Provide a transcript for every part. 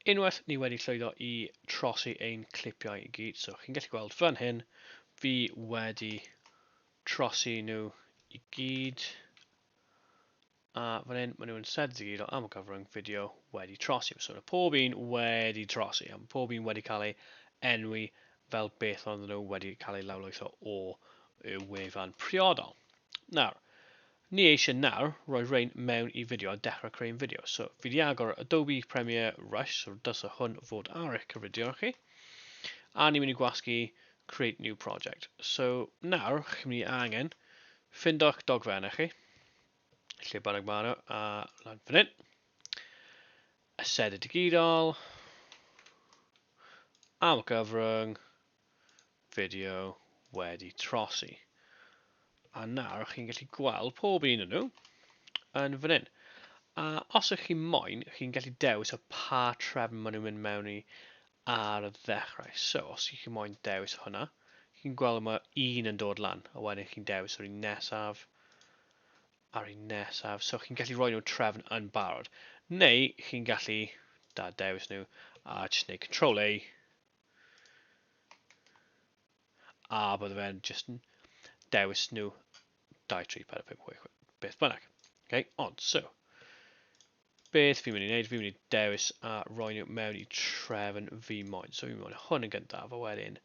Unwaith ni wedi llwyddo i trosi ein clipiau i gyd, so chi'n gallu gweld fan hyn, fi wedi trosi nhw i gyd. A fan hyn, maen nhw'n set i gyd o am y cyfrwng fideo wedi trosi. So mae pob un wedi trosi, a mae pob un wedi cael ei enwi fel beth ond nhw wedi cael ei lawlwytho o y wefan priodol. Nawr, ni eisiau nawr roi rhain mewn i fideo a dechrau creu'n fideo. So fi wedi agor Adobe Premiere Rush, so dysa hwn fod ar eich cyfridion chi. A ni'n mynd i gwasgu Create New Project. So nawr, chi'n mynd i angen ffindo'ch dogfennau chi, Lle bynnag maen nhw, a lan fan hyn. Ased y digidol. Am y gyfrwng. Fideo wedi trosi. A nawr chi'n gallu gweld pob un yn nhw yn fan hyn. A os ych chi'n moyn, chi'n gallu dewis o pa trefn maen nhw'n mynd mewn i ar y ddechrau. So, os ych chi'n moyn dewis hwnna, chi'n gweld mae un yn dod lan, a wedyn chi'n dewis yr un nesaf, Ar un nesaf, so chi'n gallu rhoi nhw trefn yn barod. Neu chi'n gallu da dewis nhw a jyst gwneud control A. A bydde fe'n jyst yn dewis nhw 2, 3, 4, 5, 6, 6, beth bynnag. Okay? Ond, so, beth fi'n mynd i wneud, fi'n mynd i dewis a roi nhw mewn i trefn fi moyn. So fi'n mynd hwn yn gyntaf, a wedyn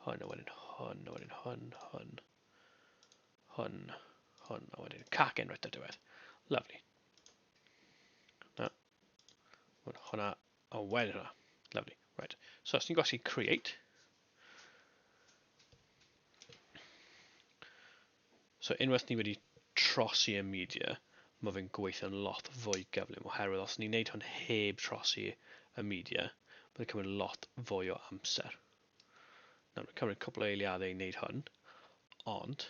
hwn, a wedyn hwn, a wedyn hwn, hwn. Hwn, hwn, a wedyn cac enw eto diwedd. Lovely. Na. Hwna, a wedyn hwnna. Lovely. Right. So, os ni'n gwasgu create, So unwaith ni wedi trosi y media, mae fe'n gweithio'n lot fwy gyflym, oherwydd os ni'n neud hwn heb trosi y media, mae'n cymryd lot fwy o amser. Nawr, mae'n cymryd cwpl o eiliadau i wneud hwn, ond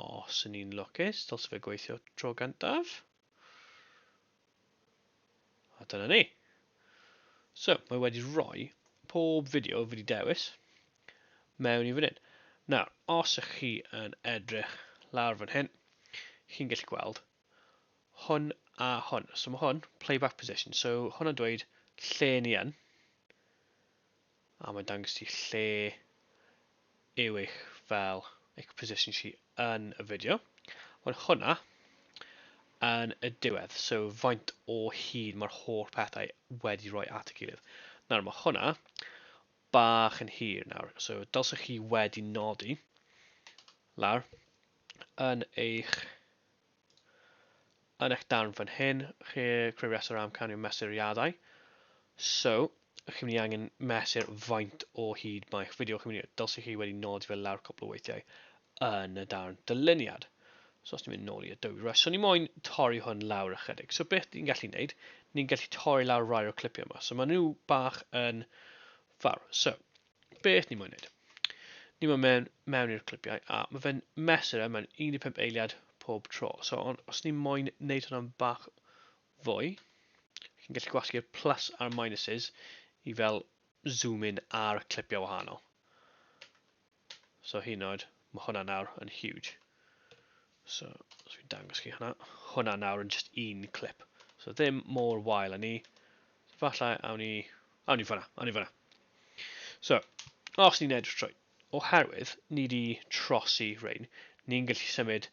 os yn ni'n lwcus, dylse fe gweithio tro gyntaf. A dyna ni. So, mae wedi rhoi pob fideo fi wedi dewis mewn i fan hyn. Nawr, os ych chi yn edrych lawr fan hyn, chi'n gallu gweld hwn a hwn. So mae hwn, playback position. So hwnna'n dweud lle ni yn. A mae'n dangos ti lle yw eich fel eich position chi yn y fideo. Ond hwnna yn y diwedd, so faint o hyd mae'r holl pethau wedi rhoi at y gilydd. Nawr mae hwnna bach yn hir nawr, so dylsech chi wedi nodi lawr yn eich yn eich darn fan hyn, chi creu rhestr o amcanion mesuriadau. So, chi'n mynd i angen mesur faint o hyd mae'ch fideo chi'n mynd i, dylsych chi wedi nodi fel lawr cwpl o weithiau yn y darn dyluniad. So os ni'n mynd nôl i Adobe Rush, so ni moyn torri hwn lawr ychydig. So beth ni'n gallu neud, ni'n gallu torri lawr rai o'r clipiau yma. So maen nhw bach yn fawr. So, beth ni moyn wneud. Ni moyn mewn, mewn i'r clipiau, a mae fe'n mesur e mewn 15 eiliad pob tro. So, ond os ni moyn wneud hwnna'n bach fwy, chi'n gallu gwasgu'r plus a'r minuses i fel zoom in ar clipiau wahanol. So hyn oed, mae hwnna nawr yn huge. So, os fi'n dangos chi hwnna, hwnna nawr yn just un clip. So ddim mor wael â ni. So falle awn ni, awn ni fyna, awn ni fyna. So, os ni'n edrych trwy, oherwydd ni wedi trosi rhain, ni'n gallu symud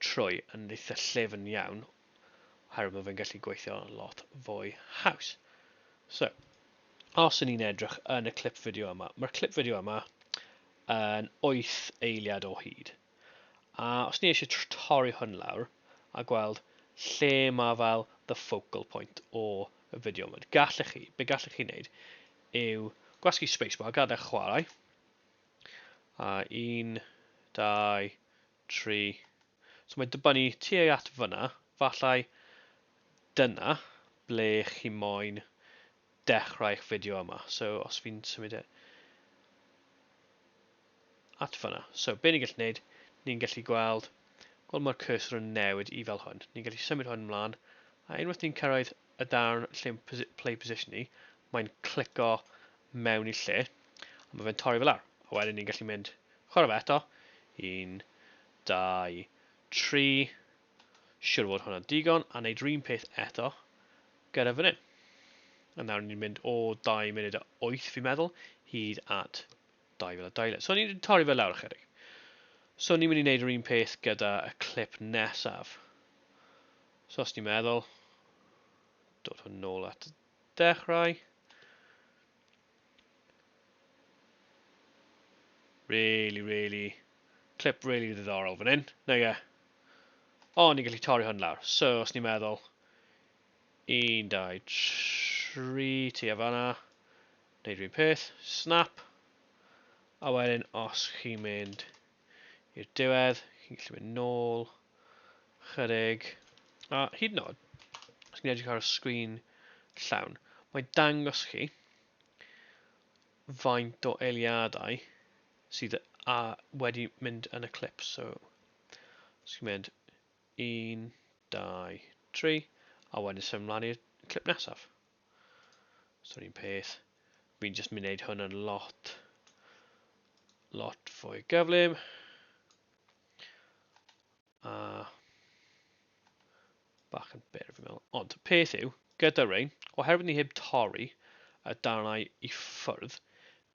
trwy yn eitha llefn iawn, oherwydd mae fe'n gallu gweithio lot fwy haws. So, os y'n ni'n edrych yn y clip fideo yma, mae'r clip fideo yma yn 8 eiliad o hyd. A os ni eisiau torri hwn lawr a gweld lle mae fel the focal point o y fideo yma, gallech chi, be gallech chi wneud yw gwasgu spacebar, gadael chwarae, a un, dau, tri, so mae dybynnu tuag at fyna, fallai dyna ble chi moyn dechrau'ch fideo yma. So, os fi'n symud e at fyna. So, be ni'n gallu gwneud, ni'n gallu gweld, gweld mae'r cursor yn newid i fel hwn. Ni'n gallu symud hwn ymlaen, a unwaith ni'n cyrraedd y darn lle play position ni, mae'n clico mewn i lle, a mae fe'n torri fel ar. A wedyn ni'n gallu mynd chwarae fe eto, 1, 2, 3, Siwr fod hwnna'n digon, a wneud run peth eto gyda fan hyn. A nawr ni'n mynd o 2 munud a 8 fi'n meddwl hyd at 2200. So ni'n torri fe lawr ychydig. So ni'n mynd i wneud yr un peth gyda y clip nesaf. So os ni'n meddwl, dod hwn nôl at y dechrau. Really, really. Clip really ddiddorol fan hyn. Na ie. O, ni'n gallu torri hwn lawr. So, os ni'n meddwl... 1, 2, 3, ti a fanna. Neud rhywun peth. Snap. A wedyn, os chi'n mynd i'r diwedd, chi'n gallu mynd nôl, chyrig, a hyd yn oed, os chi'n edrych ar y sgrin llawn, mae'n dangos chi faint o eiliadau sydd a wedi mynd yn y clip. So, os chi'n mynd 1, 2, 3, a wedyn symud mlaen i'r clip nesaf. So ni'n peth. Fi'n just mynd wneud hwn yn lot, lot fwy gyflym. A bach yn byr fi'n meddwl. Ond peth yw, gyda rein, oherwydd ni heb torri y darnau i ffwrdd,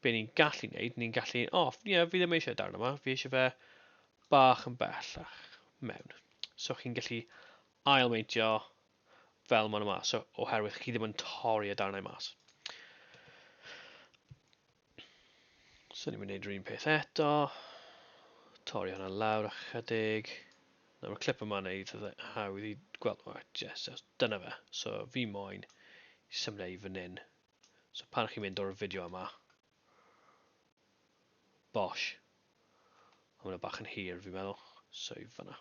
be ni'n gallu wneud, ni'n gallu, o, oh, ie, yeah, fi ddim eisiau darn yma, fi eisiau fe bach yn bellach mewn. So chi'n gallu ailmeintio fel maen nhw mas, so, oherwydd chi ddim yn torri y darnau mas. So ni'n mynd i wneud yr un peth eto. Torri hwnna lawr ychydig. Nawr y clip yma neu eitha hawdd i gweld. O, yes, yes, dyna fe. So fi moyn i symud i fan hyn. So pan chi'n mynd o'r fideo yma. Bosh. Mae'n bach yn hir fi'n meddwl. So i fanna.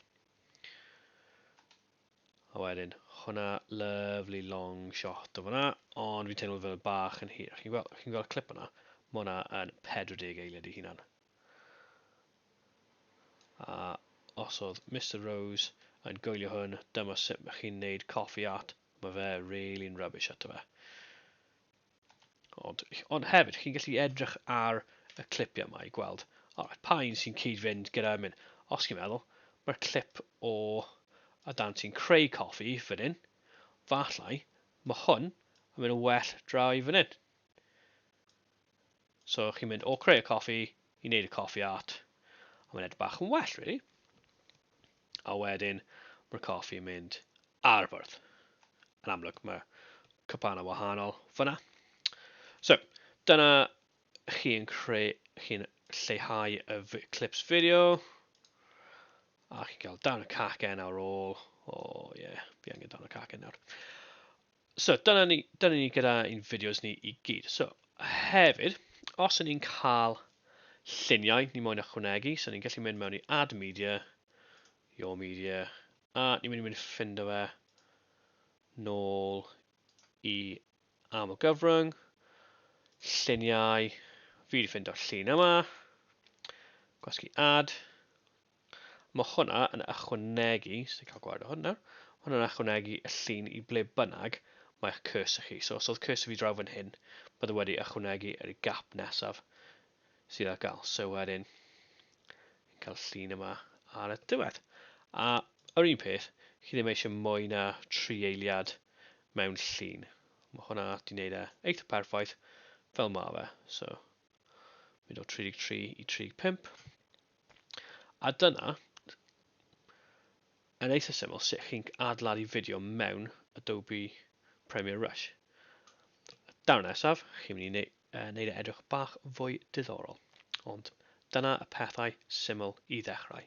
A wedyn, hwnna, lovely long shot o fyna, ond fi'n teimlo fel bach yn hir. Chi'n gweld, chi gweld clip yna? Mae hwnna yn 40 eiliad i hunan. A os oedd Mr Rose yn goelio hwn, dyma sut mae chi'n neud coffee art, mae fe really'n rubbish ato fe. Ond, ond hefyd, chi'n gallu edrych ar y clipiau yma i gweld oh, pa un sy'n cyd-fynd gyda mynd. Os chi'n meddwl, mae'r clip o a dan sy'n creu coffi fan hyn, fallai, mae hwn yn mynd yn well draw i fan hyn. So chi'n mynd o creu y coffi i wneud y coffi art, a mae'n edrych bach yn well, really. a wedyn mae'r coffi yn mynd ar y bwrdd. Yn amlwg mae cwpan yn wahanol fyna. So, dyna chi'n creu, chi'n lleihau y clips fideo, a chi'n cael darn y cacen ar ôl, o oh, ie, yeah, fi angen darn y cacen nawr. So, dyna ni, dyna ni gyda ein fideos ni i gyd. So, hefyd, os y'n ni'n cael lluniau ni moyn ychwanegu, so ni'n gallu mynd mewn i Add Media, Your Media, a ni'n mynd i mynd ffindo fe nôl i aml gyfrwng, lluniau, fi wedi ffindo llun yma, gwasgu add, Mae hwnna yn ychwanegu, os ni'n cael gwared o hwn nawr, mae hwnna'n ychwanegu y llun i ble bynnag mae'ch cursor chi. So os oedd cursor fi draw fan hyn, bydde wedi ychwanegu yr gap nesaf sydd ar gael. So wedyn, yn cael llun yma ar y diwedd. A yr un peth, chi ddim eisiau mwy na tri eiliad mewn llun. Mae hwnna di wneud e eitha perffaith fel mae fe. So, mynd o 33 i 35. A dyna, yn eitha syml, sut chi'n adeiladu fideo mewn Adobe Premiere Rush. Daw'r nesaf, chi'n mynd i wneud, uh, wneud e edrych bach fwy diddorol. Ond dyna y pethau syml i ddechrau.